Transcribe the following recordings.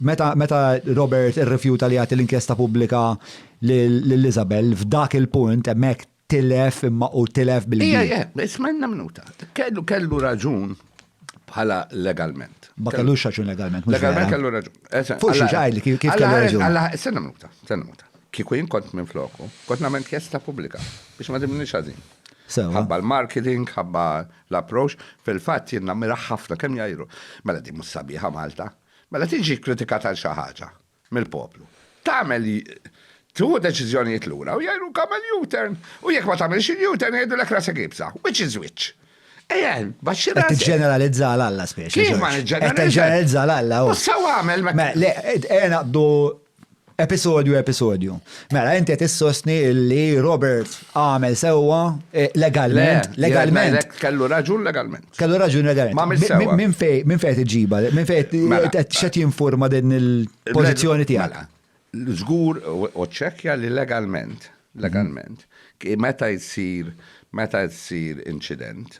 Meta, meta Robert irrifjuta li jagħti l-inkjesta pubblika lil Isabel, f'dak il-punt hemmhekk tilef imma u tilef bil-kbir. Ija, ismenna minuta. Kellu kellu raġun bħala legalment. Ma kellu xaċun legalment, mhux legalment kellu raġun. Fuq xi ġaj li kif kellu raġun. Alla, senna minuta, senna minuta. Kieku jien kont minn floku, kont nagħmel kjesta pubblika biex ma dimni xażin. Ħabba l-marketing, ħabba l-approach, fil-fatt jien nammira ħafna kemm jajru. Mela di mhux sabiħa Malta, Meta tiġi kkritikat għal xi ħaġa mill-poplu, tagħmel tieħu deċiżjonijiet lura u jgħidluk agħmel U-turn u jekk ma tagħmilx il-U-turn jgħidulek rasek iebsa. Which is which? Ejja, baxxi rasek. Qed tiġġeneralizza għal Alla spiex. Kif ma niġġeneralizza? Qed tiġġeneralizza għal Alla. U sew għamel meta. Le, ejja naqbdu Episodju episodju. Mela, inti qed issostni li Robert għamel sewwa eh, legalment. Legalment. Kellu raġun legalment. Kellu raġun legalment. Ma għamil sewwa. Minn fej, minn fej iġiba, minn fej mela. qed xed jinforma din il-pożizzjoni tiegħek. Mela. Żgur u ċekja li legalment, legalment, meta jsir meta jsir incident,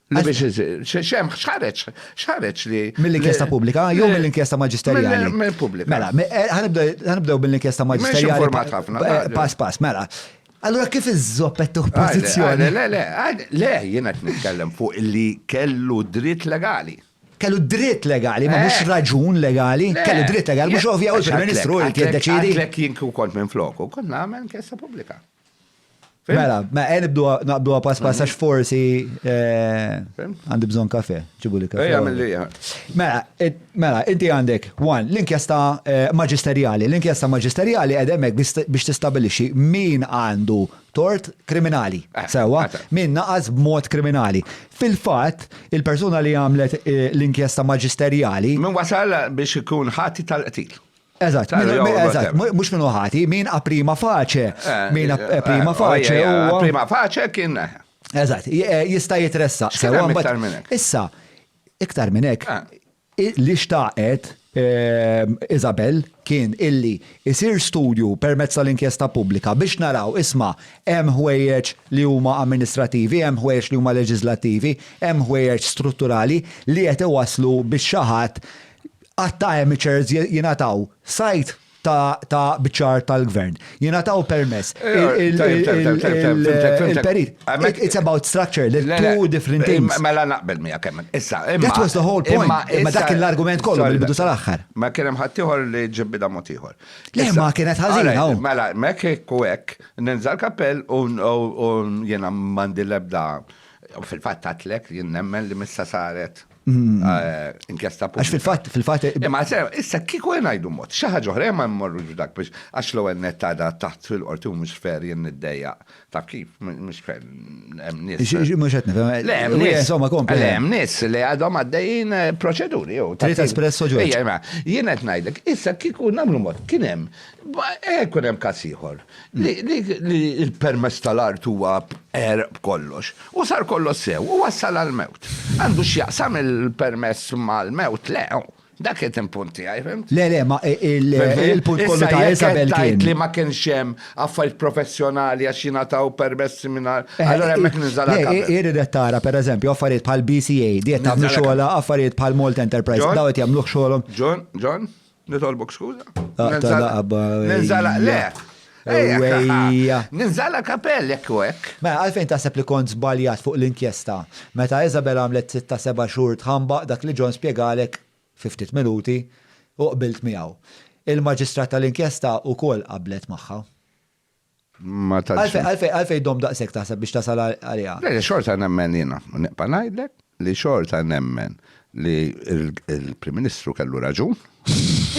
Li biex xem xħareċ, xħareċ li. Mill-inkjesta pubblika, jew mill-inkjesta maġisterjali. Mill-pubblika. Mela, eh, ħanibdew mill-inkjesta maġisterjali. Eh, pass, pass, mela. Allora kif iż-zoppet tuħ pozizjoni? Le, le, le, jena t-nitkellem fuq li kellu dritt legali. Kellu dritt legali, ma mux eh. raġun legali, kellu dritt legali, mux ovvja u l-Prim Ministru li t-deċidi. Għatlek jinku kont minn floku, kont namen kessa publika. Mela, ma għen naqbdu għapas pass għax forsi eh, għandi bżon kafe, ġibu li kafe. Ejja, mill-li Mela, mela, inti għandek, one, l-inkjesta eh, maġisterjali. L-inkjesta maġisterjali għedemek biex tistabilixi min għandu tort kriminali. Eh, Sewa, min naqas b'mod kriminali. Fil-fat, il-persuna li għamlet l-inkjesta maġisterjali. Min wasal biex ikun ħati tal-qtil. Eżatt, eżatt, mhux minnu ħati, min a prima faċe, eh, min a eh, prima eh, faċe. A prima faċe kien. Eżatt, jista' jitressa. Issa, iktar minn hekk, li xtaqet ehm, Isabel kien illi isir studju permezz tal-inkjesta pubblika biex naraw isma' hemm ħwejjeġ li huma amministrativi, hemm ħwejjeġ li huma leġislattivi, hemm ħwejjeġ strutturali li qed iwaslu biex xi ħadd Għadd ta' amateurs jingħataw sajd ta' biċċar tal-Gvern. Jingħataw permess. Il-perit. It's about structure, the two different things. Mela naqbel miegħek kemm. Issa, imma. That was the whole point. Imma dak kien l-argument kollu mill-bidu sal-aħħar. Ma kien hemm ħaddieħor li ġib bidha mod ieħor. Le, ma kienet ħażina. Mela, mek hekk u hekk, ninżal kappell u jiena m'għandi l-ebda. Fil-fatt għatlek, jien nemmen li missa saret Mm. Eh, inkjesta pubblika. Għax fil-fat, fil-fat. Eh, imma sew, issa kiku jenajdu mod, xaħġa oħra ma mmorru dak biex għax l ewwel net għada taħt fil-qorti mhux fer jien niddeja ta' kif mhux fer hemm nies. Mhux qed nifhem. Eh, le hemm nies. Insomma kompli. Le hemm nies li għadhom għaddejjin proċeduri jew. Trid espresso ġo. Jien qed ngħidlek, issa kiku nagħmlu mod kien hemm hemm każ ieħor li l-permess tal-art huwa għerq b'kollox, u sar kollox sew, u wassal għall-mewt. Għandu x'jaqsam il-permess mal-mewt? Le, dak qed il-punt tiegħi, fimt? Le, le, ma il-punt kollu ta' Isabel kien. li ma kienx hemm affarijiet professjonali għax jingħataw permessi mingħajr. Allura hemmhekk ninżal għall-kappa. Irid qed tara, pereżempju, affarijiet bħal BCA, di qed tagħmlu xogħolha, affarijiet bħal Malt Enterprise, daw qed jagħmluh xogħolhom. John, John, Nitolbok skuża. Ninżala, le. Ninżala kapell jekk u hekk. Ma mela, għalfejn taħseb li kont żbaljat fuq l-inkjesta. Meta Isabel għamlet sitta seba' xhur tħambaq dak li John spjegalek fi ftit minuti u qbilt miegħu. Il-maġistrat tal-inkjesta wkoll qablet magħha. Ma tantx. Għalfej, għalfej, għalfej dom daqshekk taħseb biex tasal għaliha? Le, xorta nemmen jiena, neqpa' ngħidlek li xorta nemmen li l-Prim Ministru kellu raġun.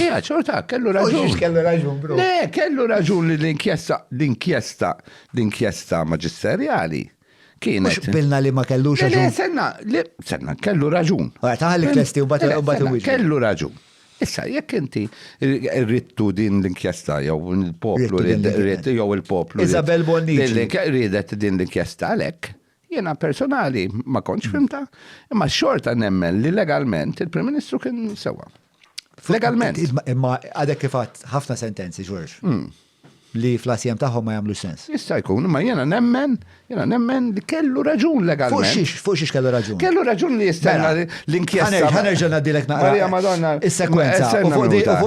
Ija, xorta, kellu raġun. Kellu raġun, bro. Le, kellu raġun li l-inkjesta, l-inkjesta, l-inkjesta maġisterjali Kienet. Mhux bilna li ma kellux Le, le, raġun. senna, le, senna, kellu raġun. Ora, taħalli Fem? klesti u bat Le, u bat senna, iwieġbu. Kellu raġun. Issa, jekk inti r- rittu din l-inkjesta jew il-poplu Rittu din rid- l-inkjesta. rid- jew il-poplu rid- Isabel Bonnici. din l-inkje- ridet din l-inkjesta għalhekk. Jiena personali ma kontx fimta, imma xorta nemmen li legalment il-Prim Ministru kien sewwa. Legalment. Imma għadek kif ħafna sentenzi, Ġorġ. Hmm. Li fl-asjem tagħhom ma jagħmlu sens. Issa jkun, imma jiena nemmen, jiena nemmen li kellu raġun legalment. Fuq xiex, fuq xiex kellu raġun. Kellu raġun li jistenna mela, l-inkjesta. Ħanerġa' ngħaddilek naqra. Marija Madonna. Is-sekwenza.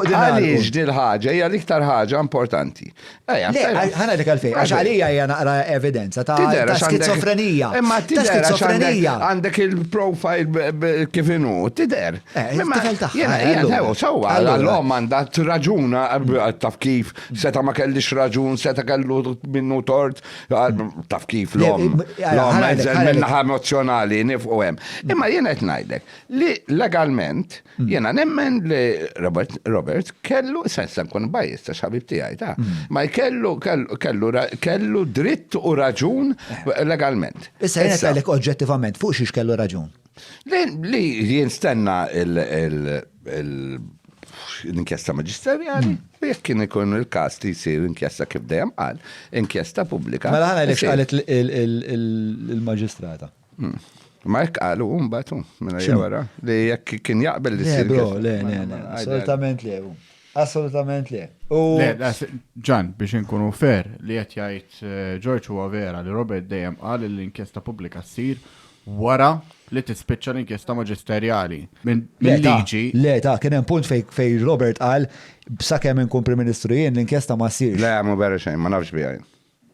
Għaliex dil ħaġa hija l-iktar ħaġa importanti. Ħana dik għalfej, għax għalija hija naqra evidenza ta' skizofrenija. Imma tidher skizofrenija. Għandek il-profile kif inhu, tidher. Eh, imma jgħidu sewwa l-om għandha raġuna taf kif seta' ma kellix raġun, seta' kellu minnu tort, taf kif l-om. L-om minn naħa emozjonali nifqu hemm. Imma jien qed ngħidlek li legalment Hmm. Jena nemmen li Robert, Robert kellu, sensa nkun bajis ta' xabib tijaj ta' hmm. ma kellu, kellu, kellu dritt u raġun eh. legalment. Issa jena kellek oġġettivament fuq xiex kellu raġun. Li jinstenna il- l-inkjesta maġisterjali, hmm. jekk kien ikun il-kas li jisir inkjesta kif dejjem qal, inkjesta pubblika. Mela ħana għalek qalet il-maġistrata. Hmm. Ma jekk qalu mbagħad hu minn hija wara li jekk kien jaqbel li sir. Le, le, le, le, assolutament le. Assolutament le. Ġan, biex inkunu fer li qed jgħid eh, George huwa vera li Robert dejjem qal li l-inkjesta pubblika ssir wara li tispiċċa l-inkjesta maġisterjali. Minn liġi. Le, ta' kien hemm punt fej Robert qal b'sakemm inkun Prim Ministru jien l-inkjesta ma ssirx. Le, ma vera xejn, ma nafx bijaj.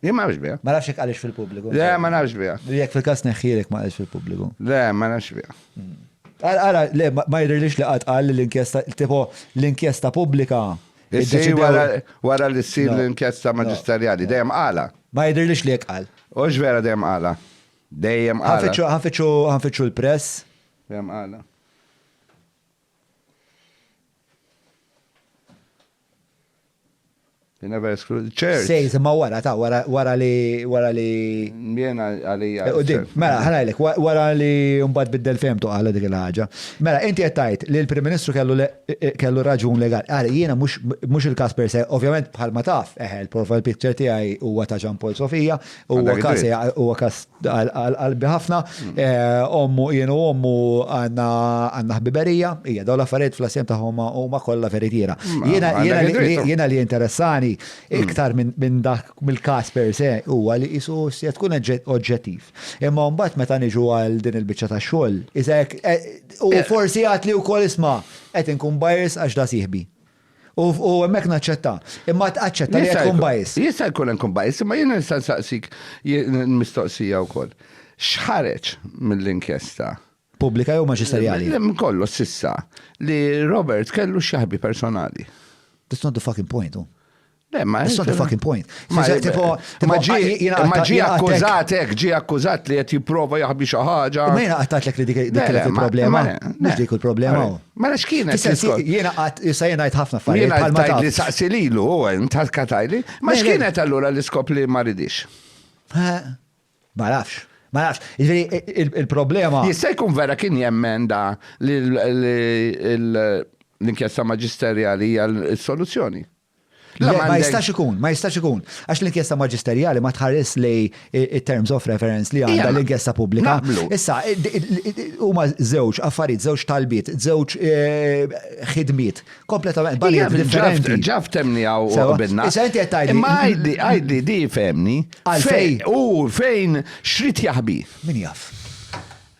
Jien ma nafx biha. Ma nafx jekk qaliex fil-pubbliku. Le, ma nafx biha. U jekk fil-każ tneħħiha jekk ma qaliex fil-pubbliku. Le, ma nafx biha. Ara, ara, le, ma jidhirlix li qatt qal li l-inkjesta, tipo, l-inkjesta pubblika. Issir wara li ssir l-inkjesta maġisterjali, dejjem qalha. Ma jidhirlix li hekk qal. Hux vera dejjem qalha. Dejjem qalha. Ħanfittxu, ħanfittxu, ħanfittxu l-press. Dejjem qalha. You never exclude the church. Sejs, ma wara ta' wara wara li wara li. Mjena għalija. Eh, Udim, mela ħanajlek, wara li mbagħad biddel femtu għala dik il-ħaġa. Mela, inti qed tgħid li l-Prim Ministru kellu kellu raġun legali. Ara, jiena mhux il-każ per se, ovvjament bħalma taf, eħe, l-profile picture tiegħi huwa ta' Jean Paul Sofia, Huwa kas huwa kas qalbi ħafna. Eh, ommu jienu ommu għandna għandna ħbiberija, hija dawn l-affarijiet fl-asjem tagħhom huma kollha veritiera. Mm, jiena mm, jiena li interessani mm. iktar minn dak mill-każ per se huwa li qisu se tkun oġġettiv. Imma mbagħad meta niġu għal din il-biċċa tax-xogħol, iżek eh, u eh. forsi għad li wkoll isma' qed inkun bajers għax da sieħbi. U hemmhekk naċċetta. Imma aċċetta li tkun bajs. Jista' jkun hemm kun bajs, imma jiena nista' nsaqsik mistoqsija wkoll. X'ħareġ mill-inkjesta? Pubblika jew maġisterjali? Kollu sissa li Robert kellu xi ħbi personali. That's not the fucking point. Le, ma That's not the fucking point. Ma Fis- tipo- tipo- ma ġi jina- ma ġi jina- akkużat hekk, ġi akkużat li qed jipprova jaħbi xi ħaġa. Ma jena għattat l-ek li dik dik Le, le, kienet ma- il-problema. ma- le, Mux le. dik il-problema. Għalek. u. Mela x'kienet Fis-sens li l-iskor? Jena għat, issa jena għajt ħafna affarijiet. Jena bħalma tajt taf. li saqsi lilu, u għen tal-katajli. Ma Le, le. x'kienet allura l-iskop li ma ridix? Eh, Ma nafx. Ma nafx. Ġifieri, il- il- Il-problema. Jista' jkun vera kien jemmen da li l- li l- l-inkjesta maġisterjali hija l-soluzzjoni. Le, ma jistax ikun, ma jistax ikun. Għax l-inkjesta maġisterjali ma tħares li terms of reference li għandha l-inkjesta pubblika. Issa, huma żewġ affarijiet, żewġ talbiet, żewġ eh, ħidmiet, kompletament banijiet differenti. Ġaf temni għaw u għabinna. Issa, inti għettajdi. Imma għajdi, għajdi, di femni. Għalfej. U fejn xrit jaħbi. Min jaf.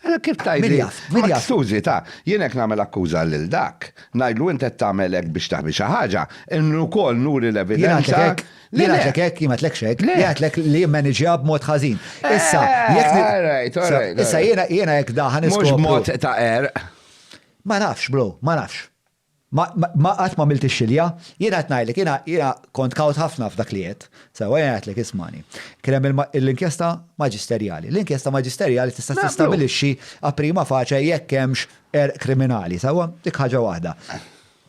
Għala kif tgħid li. Min jaf. Skużi, ta, jien hekk nagħmel akkuża lil dak, ngħidlu int qed tagħmel hekk biex taħbi xi ħaġa, imma wkoll nuri l-evidenza. Jien ngħidlek hekk, jien ma ngħidlekx hekk, jien ngħidlek li jimmaniġġja b'mod ħażin. Issa, jekk. All right, all right. Issa jiena hekk daħan iskopri. Mhux b'mod ta' qerq. Ma nafx, bro, ma nafx. Ma, ma, qatt m'għamilt ix-xilja. Jiena qed ngħidlek, jiena, jiena kont kawt ħafna f'dak li għedt. Sewwa, jiena għedtlek, ismagħni. Kien hemm il-inkjesta maġisterjali. L-inkjesta maġisterjali tista' tistabilixxi a prima facie jekk hemmx għerq kriminali, sewwa? Dik ħaġa waħda.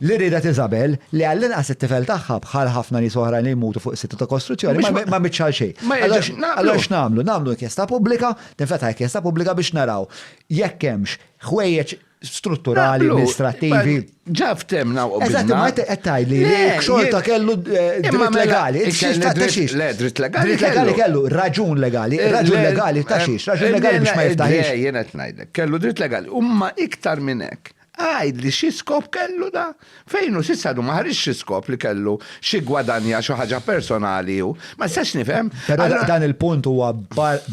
Li riedet Isabel, li għall-inqas it-tifel tagħha, bħal ħafna nies oħrajn li jmutu fuq is-sitta ta' kostruzzjoni, ma, ma għamiltx għal xejn. Ma jiġri, naqblu. Allura x'nagħmlu? Nagħmlu inkjesta pubblika, tinfetaħ inkjesta pubblika biex naraw jekk hemmx ħwejjeġ strutturali, amministrativi. Ġa ftemna u Eżatt, ma għettaj li xorta kellu eh, dritt mela, legali. Le, dritt legali. Dritt legali kellu raġun legali, eh, raġun legali ta' eh, xiex, raġun legali biex ma jiftaħiex. Jena t-najdek, kellu dritt legali. Umma iktar minnek, għajd li xie skop kellu da? Fejn hu s'issa għadu ma ħariġx xi skop li kellu xi gwadanja xi ħaġa personali hu. Ma nistax nifhem. Però dan il-punt huwa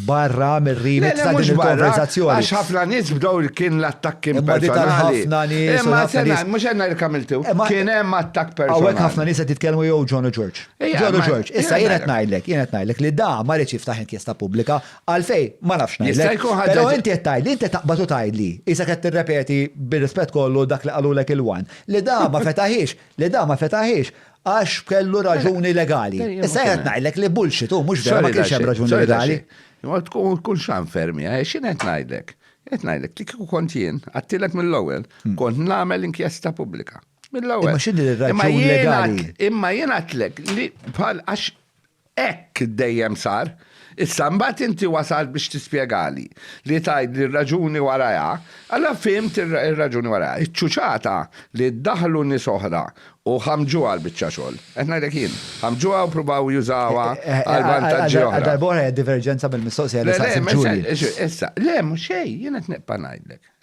barra mir-remit ta' din il-konversazzjoni. Le le mhux barra, għax ħafna nies bdew kien l-attakk kien personali. Imma di tal-ħafna nies. Imma sena, mhux għedna li kemm iltu. Kien hemm attakk personali. Hawnhekk ħafna nies qed jitkellmu jew John u George. John u George. Issa jien qed ngħidlek, jien qed ngħidlek li da ma riedx jiftaħ inkjesta pubblika Għalfejn? Ma nafx ngħidlek. Jista' jkun ħaġa. Però inti qed tgħidli, inti taqbad u tgħidli, qisek qed tirrepeti bir-rispett kollu dak li qalulek il-one, li da ma fetaħhiex, li da ma fetaħhiex għax kellu raġuni legali. Issa jien qed ngħidlek li bullshit hu mhux vera ma kienx hemm raġuni legali. Imma tkun kull xan fermi, eh, x'in qed ngħidlek? Qed ngħidlek li kieku kont jien, għattilek mill-ewwel, hmm. kont nagħmel inkjesta pubblika. Mill-ewwel. Imma x'inhi l-raġuni legali? Imma jien għatlek li bħal għax Hekk dejjem sar. Issa mbagħad inti wasalt biex tispjegali, li tgħidli r-raġuni warajha, allura fhimt ir-raġuni warajha. Iċ-ċuċata li daħlu nies oħra u ħammġuha l-biċċa xogħol. Qed ngħidlek jien. Ħammġuha u pruvaw jużawha għal vantaġġi oħra. Għal darb'oħra hija diverġenza mill-mistoqsija li saqsiet Julie. Le, le, issa, le, mhux xejn, jien qed nibqa' ngħidlek.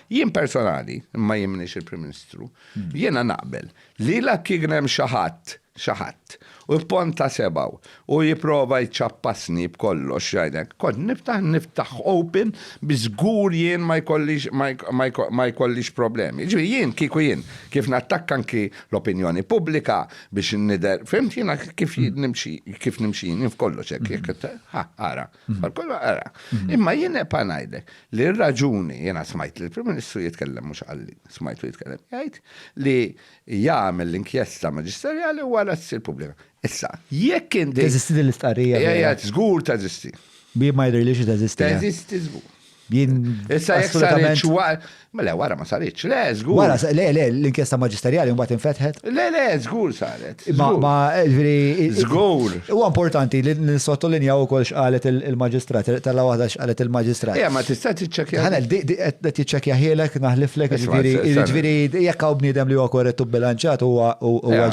Jien personali, imma jien minix il-Prim Ministru, jiena naqbel li la kien hemm xi ħadd, xi ħadd, u jponta sebgħu u jipprova jċappasni b'kollox jgħidlek, kont niftaħ niftaħ open biex żgur jien ma jkollix ma jkollix problemi. Jiġifieri jien kieku jien kif nattakka anki l-opinjoni pubblika biex nidher, fhimt jiena kif nimxi kif nimxi jien f'kollox hekk jekk ara. Mhm. Kollu għara. Mhm. Imma jien epa ngħidlek li r-raġuni jiena smajt li l-Prim Ministru jitkellem mhux għalli, smajtu jitkellem jgħid li jagħmel l-inkjesta maġisterjali wara ssir pubblika. Issa, jekk kien Teżisti din l-istqarrija. Ejja, żgur teżisti. Bi ma jidhirlix teżisti. Eh? Teżisti żgur. Jien. Issa jekk saritx wara. Mela wara ma saritx, le, żgur. Wara, le, le, l-inkjesta maġisterjali mbagħad infetħet. Le, le, żgur saret. Ma, ma, ġifieri. Żgur. Huwa importanti li nissottolinjaw ukoll x'qalet il-maġistrat, tella waħda x'qalet il-maġistrat. Ejja, ma tista' tiċċekkja. Ħanel, qed tiċċekkja ħielek, naħliflek, ġifieri, ġifieri, jekk hawn bniedem li huwa korrett u bilanċat huwa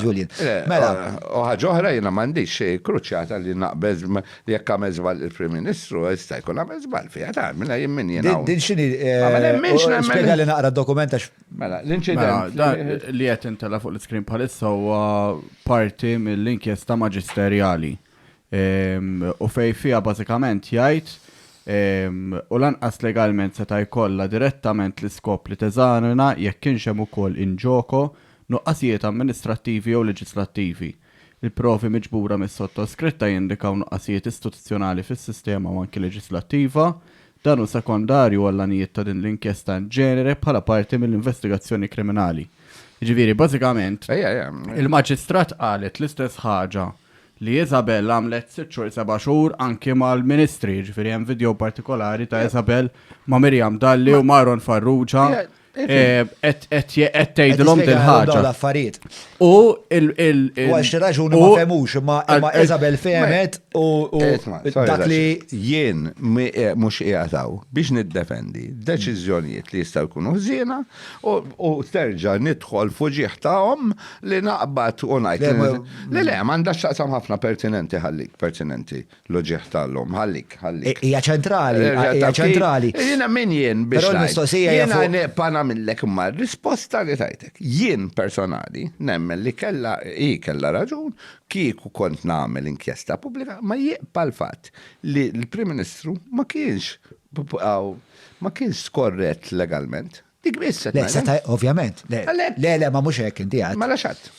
Julian. Mela. U ħaġa oħra jiena m'għandix kruċjata li naqbeż Jekk għamel żball il-Prim Ministru, jista' jkun għamel żball fiha, tara, mela jien min jien hawn. Din x'inhi? Ma ma nemminx eh, nemmen. Spjega li naqra d-dokument għax. Mela, l-inċident. Mela, li qed intela' fuq l-iskrin bħalissa huwa parti mill-inkjesta maġisterjali. Ehm, u fej fiha bażikament jgħid ehm, u lanqas legalment seta' jkollha direttament l-iskop li teżanina jekk kienx hemm ukoll inġoko nuqqasijiet amministrattivi jew leġislattivi. Il-provi miġbura mis-sottoskritta jindikaw nuqqasijiet istituzzjonali fis-sistema u anki leġislattiva. Dan hu sekondarju għall-għanijiet ta' din l-inkjesta in genere bħala parti mill-investigazzjoni kriminali. Jiġifieri, bażikament, il-Maġistrat qalet l-istess ħaġa li Isabel għamlet sitt xhur, seba' xhur anki mal-Ministri. Jiġifieri hemm video partikolari ta' Isabel ma' Miriam Dalli u ma' Aaron Farrugia Eh, qed tgħidilhom din ħaġa. l-affarijiet. U il il Għax raġuni ma femux, ma Isabel femet u dak li jien eh, mhux qiegħataw biex niddefendi deċiżjonijiet li jistgħu jkunu ħżiena u terġa' nidħol fuġieħ tagħhom li naqbad u ngħid. Le le, m'għandha x'taqsam ħafna pertinenti ħallik pertinenti. L-uġigħ tal-lum. Ħallik, ħallik. Hija ċentrali, Erġa' hija ta' kif- ċentrali. Jiena min jien biex Però ngħid. l-mistoqsija hija Jiena fuq- neqpa' nagħmillek imma r-risposta li tajtek. Jien personali nemmen li kellha hi kellha raġun kieku kont nagħmel inkjesta pubblika ma jibqa' l-fatt li l-Prim Ministru ma kienx ma kienx skorrett legalment. Dik biss se Le, seta' ovvjament. Le, le, le, ma mhux hekk inti għad. Ma laxat.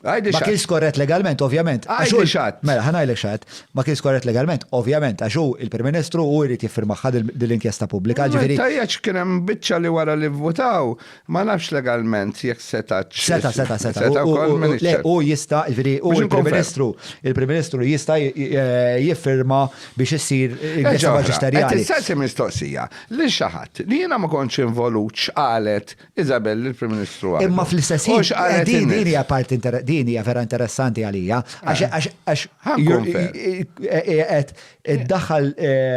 Għajdi Ma kienx korret legalment, ovvjament. Għajdi xat. Mela, ħanajlek xat. Ma kienx korret legalment, ovvjament, għax hu il-Prim Ministru u jrid jiffirmaħħa dil-inkjesta pubblika. Ġifieri. Tajjaċ kien hemm biċċa li wara li vvutaw, ma nafx legalment jekk seta' Seta, seta, seta. Le, u jista, ġifieri, u il-Prim Ministru, il-Prim Ministru jista' jiffirma biex issir inkjesta maġisterjali. Issa mistoqsija. Lil xi ħadd, li jiena ma kontx involut x'qalet Isabel lill-Prim Ministru għadu. Imma fl-istess ħin. U x'qalet in-nies. Din hija parti inter, din hija vera interessanti għalija għax għax għax. Ħa nkun fair. Qiegħed iddaħħal.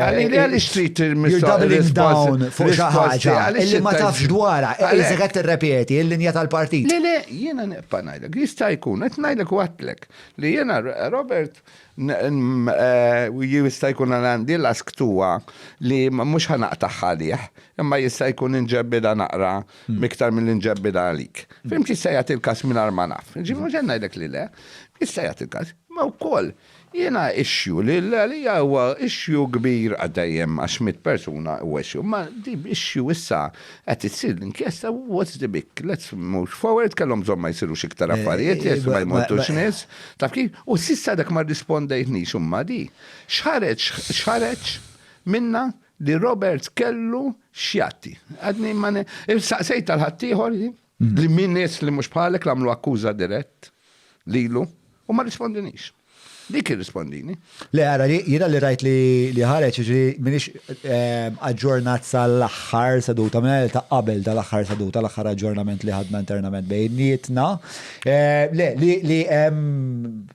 Għalili għaliex trid tirmissha. You're doubling down fuq xi ħaġa li ma tafx dwarha. Qiegħed qed tirrepeti l-linja tal-partit. Le le, jiena nibqa' ngħidlek, jista' jkun qed ngħidlek u għedtlek li jiena Robert Jista' jkun li għandi l-għask tuha li mhux ħa naqtagħha għalih, imma jista' jkun inġebbidha naqra iktar milli nġebbidha għalik. Fhimt, jista' jagħti l-każ mingħajr ma naf. Jiġifieri mhux qed ngħidlek li le, jista' jagħti l-każ. Imma wkoll jiena issue li għalija huwa issue kbir għad dejjem għax mitt persuna huwa issue. Imma di issue issa qed issir l-inkjesta what's the big, let's move forward, kellhom bżonn ma jsirux iktar affarijiet, ma jmutux nies. Taf kif? U s'issa dak ma rrispondejtnix imma di. X'ħareġ x'ħareġ minnha li Roberts kellu x'jagħti. Għadni ma saqsejt għal ħaddieħor li min nies li mhux bħalek l-għamlu akkuża dirett lilu u ma rrispondinix. Dik irrispondini. Le, ara, jiena li rajt li ħareġ, jiġri minix aġġornat sal-aħħar seduta, mela ta' qabel dal-aħħar seduta, l-aħħar aġġornament li ħadna internament bejnietna. Le, li hemm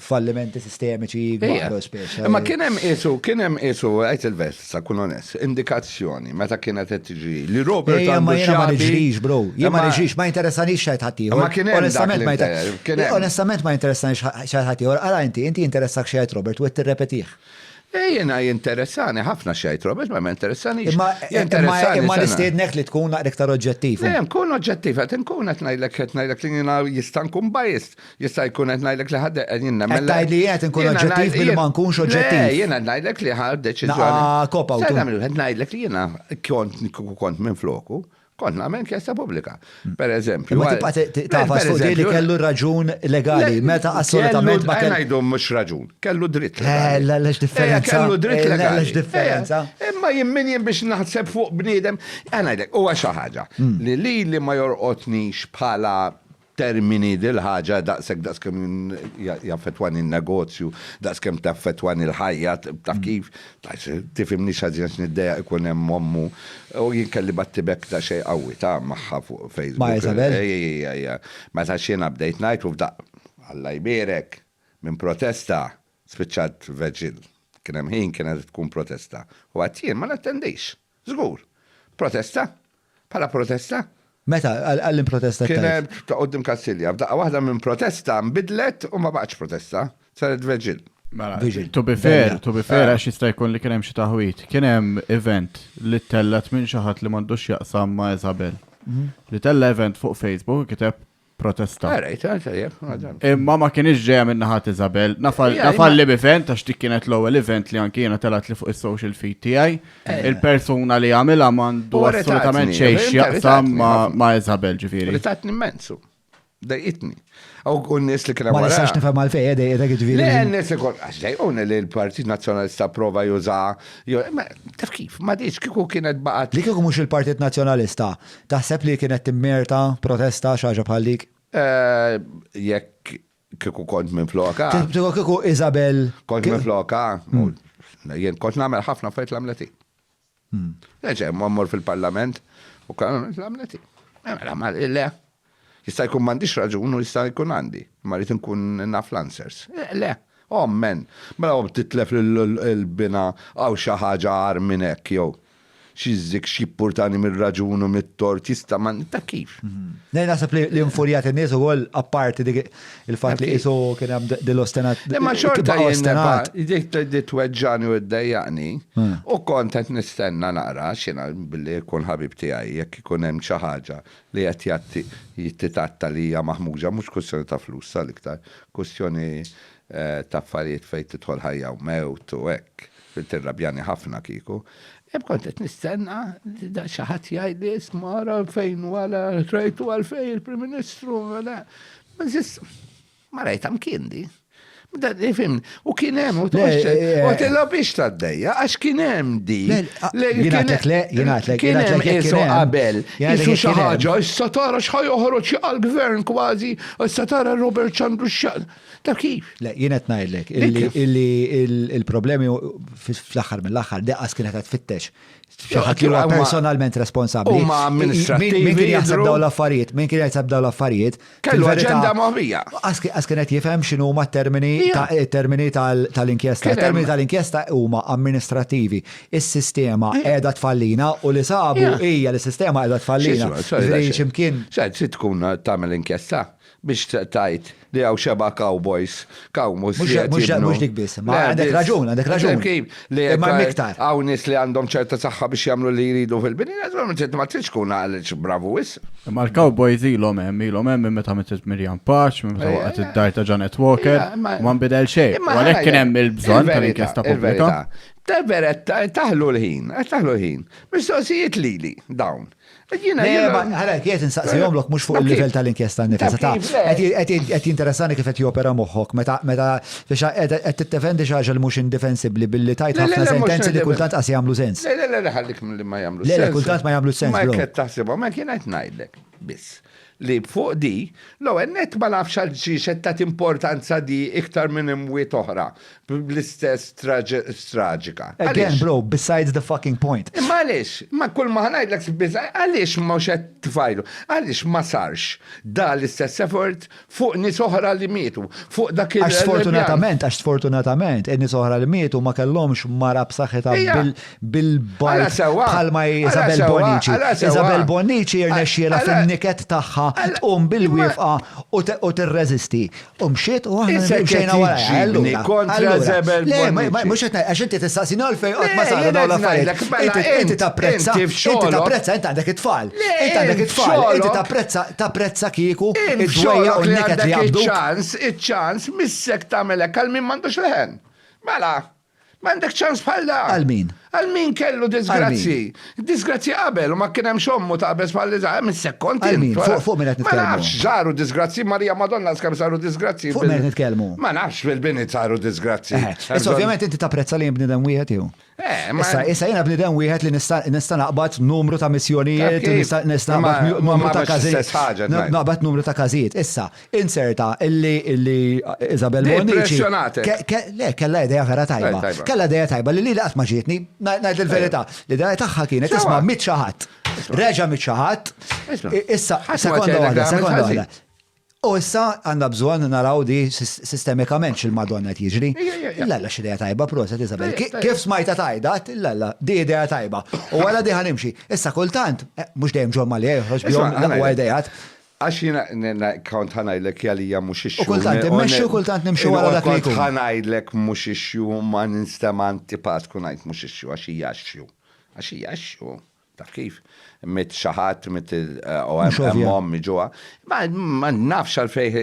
fallimenti sistemiċi għal speċi. Ma kien hemm isu, kien hemm isu, għajt il-vest. Sa kun onest. Indikazzjoni, meta kienet qed tiġri, li Robert Ejja, għandu ma jiena ma x'jabi. niġrix, bro. Jien ma Imma- niġrix, ma jinteressanix x'għid ħaddieħor. Imma kien hemm dak Onestament li ma jinter- nter- kien hemm. Onestament ma jinteressanix ħa- x'għid ħaddieħor. Ara inti, inti jinteressakk x'għid Robert u qed tirrepetih. Eh, jiena jinteressani ħafna x'għid Robert, ma ma jinteressanix. Imma imma Jinteressani imma sena. nistiednek li tkun naqra iktar oġġettiv. Le, nkun oġġettiv, qed nkun qed ngħidlek qed ngħidlek li jiena jista' nkun biased. Jista' jkun qed ngħidlek li ħadd qed jinnemmel. Qed tgħid li qed inkun oġġettiv billi ma nkunx oġġettiv. Le, jiena qed ngħidlek li ħa deċiżjoni. Naqa' cop out. Stennha minut, qed ngħidlek li jiena kont kieku kont minfloku, kont nagħmel inkjesta pubblika. Pereżempju. Imma tibqa' tagħfas fuq din li kellu raġun legali meta assolutament ma kellu. Ngħidu mhux raġun, kellu dritt legali. Le, le x'differenza. Kellu dritt legali. Le, le x'differenza. Imma jien min jien biex naħseb fuq bniedem. Qed ngħidlek, huwa xi ħaġa li lili ma jorqodnix bħala termini dil-ħaġa daqshekk daqskemm jaffettwani n-negozju, daqskemm taffettwani l-ħajja, taf kif? Tifhimnix ħażin għax niddejjaq ikun hemm ommu. U jien kelli battibekk daqsxejn qawwi ta' magħha fuq Facebook. Ma' Isabel? Ejja, ejja. Meta għax jiena bdejt ngħid u f'daqqa, Alla jbierek, minn protesta spiċċat veġil. Kien hemm ħin kienet tkun protesta. U għedt jien ma nattendix. Żgur. Protesta? Bħala protesta? Meta? Għal li protesta kif? Kienet ta' quddiem Kassilja. F'daqqa waħda minn protesta nbidlet u ma baqgħetx protesta. Saret veġil. Mela, to be fair, to be fair, għax jista' jkun li kien hemm xi taħwid. Kien hemm event li ttellgħet minn xi ħadd li m'għandux x'jaqsam ma' Isabel. Li tella' event fuq Facebook u kiteb protesta. Imma ma kienx ġeja minn naħat Isabel. Nafal l-event, għax dik kienet l-ewwel event li anki jiena telat li fuq is-social feed tiegħi. Eh. Il-persuna li għamilha mandu assolutament xejn x'jaqsam ma' Isabel ġifieri. Ritatni immensu. Dajqitni. U n-nis li kena għara. Għax nifem għal-fej, għedaj, għedaj, għedaj, għedaj. Le, n-nis ikon, għax dajqun li l-Partit Nazjonalista prova juża. Taf kif, ma diċ kiku kienet baqat. Li kiku mux il-Partit Nazjonalista, Taħseb li kienet timmerta protesta xi ħaġa bħal dik? Jekk kieku kont minn floka. Kieku kieku Isabel. Kont minn floka. Hmm. Jien kont nagħmel ħafna fejt l-amleti. Hmm. Eġe, mmor fil-parlament u kan l-amleti. Mela, ma le. Jista' jkun m'għandix raġun u jista' jkun għandi, imma rrid inkun naf l-answers. Le! Omm, men! Mela omm titlef lil binha hawn xi ħaġa agħar minn hekk jew? Xi żikk x'jippurtani mir-raġun u mit-tort jista' ma ta' kif? Le naħseb li li infurjat in-nies ukoll apparti dik il-fatt li qisu kien hemm din l-ostinat. Imma xorta jien nibqa' dik li tweġġagħni u ddejjaqni u kont qed nistenna nara x'jiena billi jkun ħabib tiegħi jekk ikun hemm xi ħaġa li qed jgħatti jittitatta li hija maħmuġa mhux kwistjoni ta' flus sa l-iktar kwistjoni ta' affarijiet fejn tidħol ħajja u mewt u hekk fejn tirrabjani ħafna kieku hemm kont qed nistenna li da xi ħadd jgħidli isma' ara fejn u għala trajtu għalfejn il-Prim Ministru ma żist Ma rajta mkien di. Fim, u kien hemm u tilla biex taddejja, għax kien hemm di. Jinatlek le, jinatlek. Kien hemm isu qabel, isu xi ħaġa, issa tara x'ħaj joħroġ għall-gvern kważi, issa tara Robert Ċandru x'xaq. Ta' kif? Le, jien qed ngħidlek illi il-problemi fl-aħħar mill-aħħar deqas kienet qed tfittex Xaħat li huwa personalment responsabbli. Huma amministrattivi. Min kien jaħseb dawn l-affarijiet, min kien jaħseb dawn l-affarijiet. Kellu aġenda moħbija. Għas kienet jifhem x'inhu huma termini termini tal-inkjesta. Termini tal-inkjesta huma amministrattivi. Is-sistema qiegħda tfallina u li sabu hija li sistema qiegħda tfallina. Ximkien. Xed tkun tagħmel inkjesta. Biex tgħid li hawn xebgħa cowboys, cow mhux qiegħed jibnu. Mhux mhux dik biss, imma għandek raġun, għandek raġun. Taf kif? Li Imma hemm iktar. hawn nies li għandhom ċerta saħħa biex jagħmlu li jridu fil-bini, naturalment inti ma tridx tkun għaliex bravu wisq. Imma l-cowboys ilhom hemm, ilhom hemm minn meta mietet Miriam Paċ, minn meta Ejja, waqgħet ejja. id-dar ta' Janet Walker, Ejja, imma- u ma nbidel xejn. Imma U għalhekk ħajja, kien hemm il-bżonn il-verità, tal-inkjesta pubblika. il-verità. Ta' veretta, taħlu l-ħin, qed taħlu l-ħin. Mistoqsijiet lili dawn. Jina, jina. Għara, kiet insaqsi jomlok mux fuq il-level tal-inkjesta nifisa. Ta' għet jinteressani kif għet jopera moħħok, meta meta biex għet t-tefendi xaġa li mux indifensibli billi tajt ħafna sentenzi li kultant għas jamlu sens. Le, le, le, ħallik li ma jamlu sens. Le, kultant ma jamlu sens. Ma jkett taħsibom, ma kien għet najdlek, biss. li fuq di, l-ewwel nett ma nafx għalxiex qed tagħti importanza di iktar minn imwiet oħra bl-istess traġika. Again bro, besides the fucking point. Imma għaliex, imma kull ma ħa ngħidlek besides, għaliex mhux qed tfajlu? Għaliex ma sarx da l-istess effort fuq nies oħra li mietu, fuq dak il-. Għax sfortunatament, għax sfortunatament, in-nies oħra li mietu ma kellhomx mara b'saħħitha bil-bajt bħalma Isabel Bonici. Isabel Bonici jirnexxiela fin-niket tagħha tqum bil-wifqa u tirreżisti. U mxiet u aħna mxejna wara. Kontra Isabel Bonici. Mhux qed għax inti tistaqsini għal fejn qatt ma saru dawn l-affarijiet. Mela, inti tapprezza, inti tapprezza, inti għandek it-tfal. Inti għandek it-tfal, inti tapprezza, tapprezza kieku id-dwejja u n-niket li għandek. Iċ-ċans, iċ-ċans, missek tagħmel hekk għal min m'għandux leħen. Mela, M'għandek ċans bħal da. Għal min? Għal min kellu disgrazzji. Disgrazzji qabel u ma kien hemm xommu taqbeż bħal li żgħar minn sekkont. Għal min? Fuq min qed nitkellmu? Ma nafx żaru disgrazzji Marija Madonna skemm saru disgrazzji. Fuq min nitkellmu? Ma nafx fil-bini saru disgrazzji. Issa ovvjament inti tapprezza li bnidem wieħed jew? Eh, issa, issa jena bnidem wieħed li nista' naqbad numru ta' missjonijiet, nista' naqbad numru ta' każijiet. Naqbad numru ta' każijiet. Issa, Inserta illi illi Isabel Bonnici. Le, kella ideja vera tajba. Kella ideja tajba li li laqt ma ġietni, ngħid il-verità. L-ideja tagħha kienet isma' mit xaħat. Reġa' mit xaħat. Issa, sekonda waħda, sekonda waħda. U issa għandna bżonn naraw di sistemikament x'il-Madonna qed jiġri. Illa illa x'idea tajba proset Isabel. Kif smajta tajda, illa illa di idea tajba. U wara di ħanimxi. Issa kultant, mhux dejjem ġol ma li joħroġ bihom l-aqwa idejat. Għax jiena kont ħa ngħidlek Jalija mhux ix-xhur. U kultant immexxi u kultant nimxi wara dak li jkun. Kont ħa ngħidlek mhux ix-xhur u ma ninsta ma antipatku ngħid mhux ix-xhur għax hija x-xhur. Għax hija x-xhur. Taf kif? Mitt xi ħadd, mitt u hemm ommi ġuha. Ma nafx għalfejn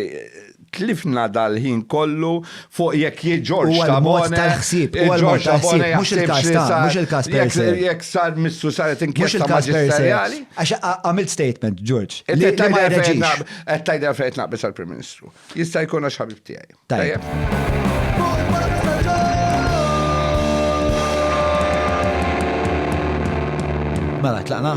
Tlifna dal-ħin kollu fuq jekk jiġ Ġorġ Tabone. Huwa l-mod tal-ħsieb, huwa l-mod tal-ħsieb, mhux il-każ ta', mhux il-każ per se. Jekk sar Mistru saret inkjesta maġisterjali. Għax għamilt statement, Ġorġ, li ma jreġix. Qed tgħidilha fejn qed naqbeż għall-Prim Ministru. Jista' jkun għax ħabib tiegħi. Tajjeb. Mela, tlaqna?